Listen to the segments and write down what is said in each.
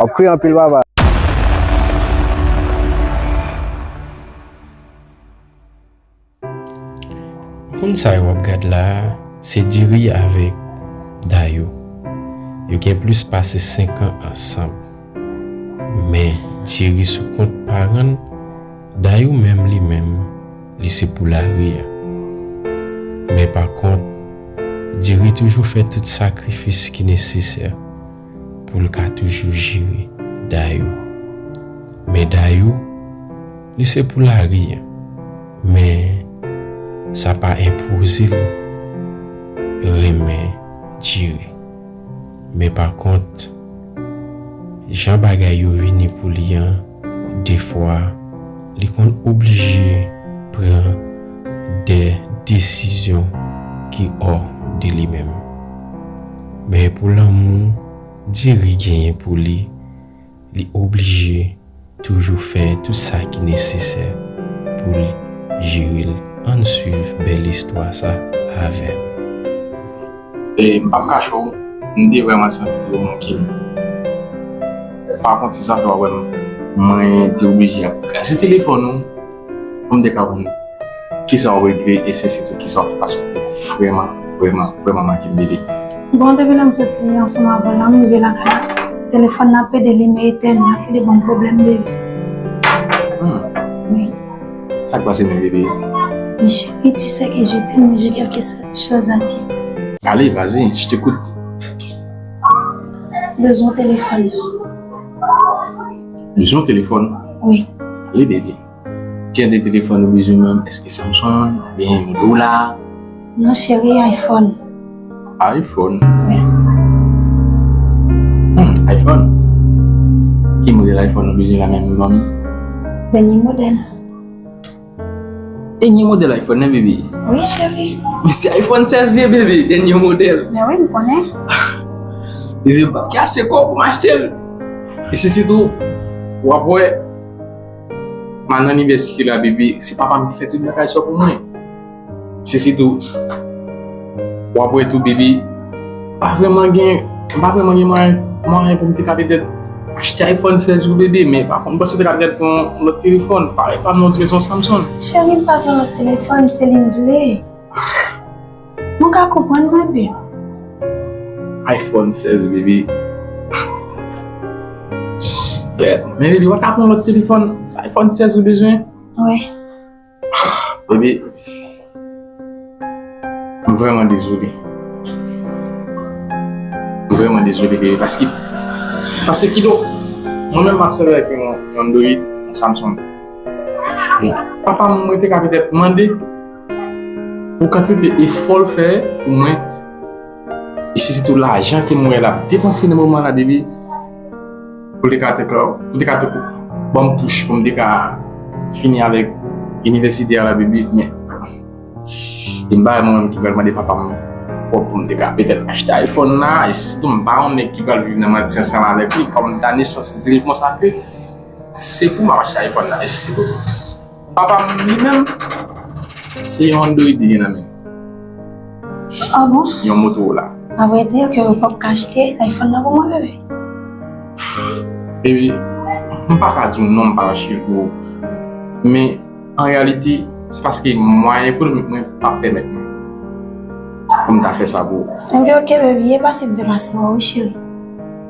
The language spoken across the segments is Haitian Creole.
Wap kriye anpil papa. Moun sa yo wap gad la a se Diri avèk Dayou. Yo gen plis pase 5 an ansanm. Men Diri sou kont paran l, Dayou menm li menm li se pou lari a. Men pa kont Diri toujou fè tout sakrifis ki nesesè. pou l ka toujou jere Dayou. Men Dayou, li se pou lari an, men sa pa enpoze l renmen Djeri. Men pa kont, jan bagay yo vini pou li an, defwa li konn oblije pran de desizyon ki ò de li menm. Men pou lanmou Diri genyen pou li, li oblije toujou fè tout sa ki nesesè pou l jere l. Ann swiv bèl istwa sa avè m. E m pap kache w, m te vrèman santi yo manke m. Pakont se sa fè w ap wè m mwen te oblije ap gade telefòn ou. Mwen te ka wè ki sa ou regle e se sitou ki sa ou fè paske ou te vrèman, vrèman, vrèman manke m bebe. Bon, depi lè m soti ansanm avè w la, m rive lakay la, telefòn nan ap pede li men etèn, l ap pede ban m pwoblèm bebe. Wi. Sa k pase menm bebe? Men cheri, tu sais que je t'aime mais j'ai quelque chose à dire. Ale, vazi, je t'ecoute. Bezwen telefòn nan. Bezwen telefòn? Wi. Li bebe. Kiyè de telefòn ou bezwen menm? Eske Samsung ou byen Motorola? Non cheri, iPhone. iPhone? Wi. Hum, iPhone? Ki modèl iPhone ou bezwen la menm Manmi? Dènye modèl. Dènye modèl iPhone nan bebe? Wi cheri. Men se iPhone 16 ye bebe, dènye modèl. Men wi m konnen. Bebe m pap gen ase kòb pou m achte l. E se sitou w ap wè m al nan inivèsite la bebe, se papa m ki fè tout bagay sa yo pou mwen. Sisi tou, wap wè tou bebe, pa vreman gen, pa vreman gen mwen, mwen pou mte kapè tèt, achte iPhone 16 pou bebe, men pa konn bwè sou te kapè tèt pou yon lòt telefon, pa wè pa mwen di bezwen Samsung. Chèri m pa vle lòt telefon, se li m vle. Mwen ka konprann mwen bebe. iPhone 16 bebe. Shit. Men bebe wap ka pran lòt telefon, se iPhone 16 ou bezwen? Wi. Baby, m vrèman dezole. M vrèman dezole baby paske, paske kidon mwen menm m ap sèvi avèk yon Android, yon Samsung. Papa m mwen te ka petèt mande pou kantite efò l fè pou mwen e se sitou lajan ke m wè l ap depanse nan moman la baby. Pou te ka te ka, pou te ka te kou. Banm pouch pou m te ka fini avèk inivèsite a la biblik men. Gen bagay mwen menm ki pral mande papa m kòb pou m te ka petèt achte iPhone la. E sitou m pa yon nèg ki pral viv nan manti ansanm avèk li, fò m ta nesans di l konsa ke se pou m ap achte iPhone la. Mèsi bokou. Papa m li menm, se yon Android li gen nan men l. Ah bon? Yon Motorola. A vrai dire ke ou pap ka achte iPhone nan pou mwen bebe? Baby, m pa ka di w non m pa achte l pou ou. Men, an reyalite, se paske mwayen ekonomik mwen pa pèmèt mwen pou m ta fè sa pou ou. Ebyen ok baby, e pa si m te pase wè w wi cheri.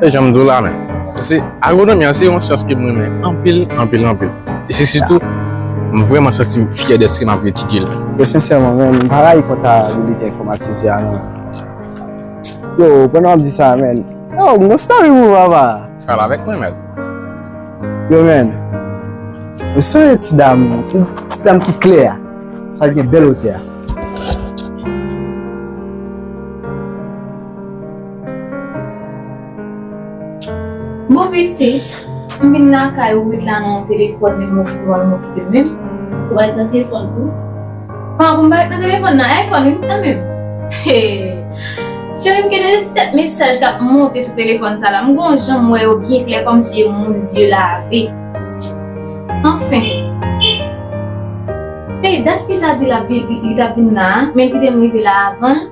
E janm di w la men, se agwonomi an se yon syans ke m renmen anpil, anpil, anpil. E se sitou m vrèman santi m fyè dèske m ap etidye l. Yo sensèman men, m pa rayi kontabilite enfomatizye a non. Yo, pandan w ap di sa a men, yo, m gon story pou w papa. Pale avèk mwen mèt. Yo men, m sonje ti dam, ti dam ki klè a, sa ki gen bèl wotè a. Bon pitit, m vin lakay ou ret la nan yon telefòn menm mwen ki pou al m'okipe m menm. Ou pa ret nan telefòn tou? Kòman pou m pa ret nan telefòn nan iPhone wi m nan menm. Hee cheri m gen de ti tèt mesaj kap monte sou telefòn sa la m gon jan m wè yo byen klè kòmsi e moun zye lave. Anfen. Ey dat fi sa di lap vin li tap vin la a men l kite m rive la avan l.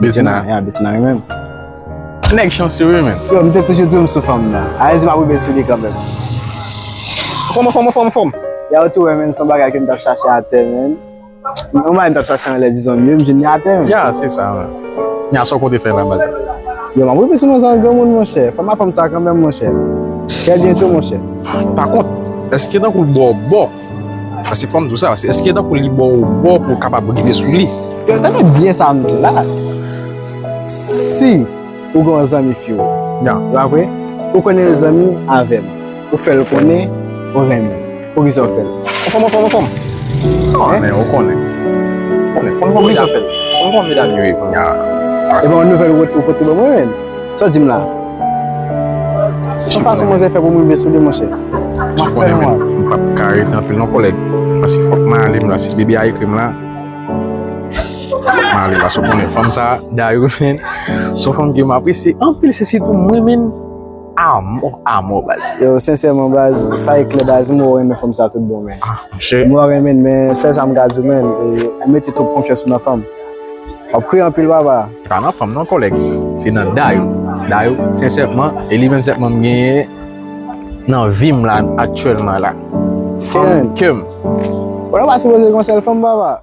Betina, ya Betina wi menm. Nèg chansye wi menm. Yo, m te toujou di w m sou fanm nan. A redi m ap rive sou li kanmenm. Fanm anfòm, fanm anfòm. Ya ou tou wè menm, son bagay ke m t ap chache atè menm. Yon bagay m t ap chache anlè dizon m yo, m jwenn li atè menm. Ya, se sa menm. Ya, sa w konte fè la baz la? Yo, m ap rive sou nou san granmoun monchè. Fanm anfòm sa kanmenm monchè. Trè byento monchè. Pa kont, èske tankou l bò w bò? Asi fòm di w sa, se eske tankou li bon ou bon pou w kapab rive sou li. Yo tande byen sa m di la. Si ou gen yon zanmi fi w. Ya. Ou pa vre? Ou konnen l zanmi avè m. Ou fè l konnen ou renmen l. Poukisa ou fè l? Ou fòm, ou fòm, ou fòm. An men, ou konnen. Ou konnen. Konn kon medam. Poukisa ou fè l? Konn kon medam yo ye kounya. Ebyen yon nouvèl ou pote ban mwen menm? Sa w di m la? Se yon fason manzè fè pou m rive sou li monchè. M ap fè nwa. M pa p ka rete anpil non kòlèg. Paske fòk m ale m la. Si Bibi a ekri m la, fòk m ale. Paske w konnen fanm sa a, Dayou menn, se yon fanm ke m apresye anpil. Se sitou m renmen l a mò a mò baz. Yo, sensèman baz, sa e klè baz, m wè w renmen fanm sa a tout bon men. M wè w renmen l men, sèl sa m ka di w menn, ou mete twòp konfyans ou nan fanm. Wap kriye anpil papa. Se pa nan fanm non kòlèg, se nan Dayou. Dayou sensèman, e li menm sèlman m genyen nan vi m la aktyèlman la. Fanm kè m. Ou nan pa sipoze gen yon sèl fanm papa.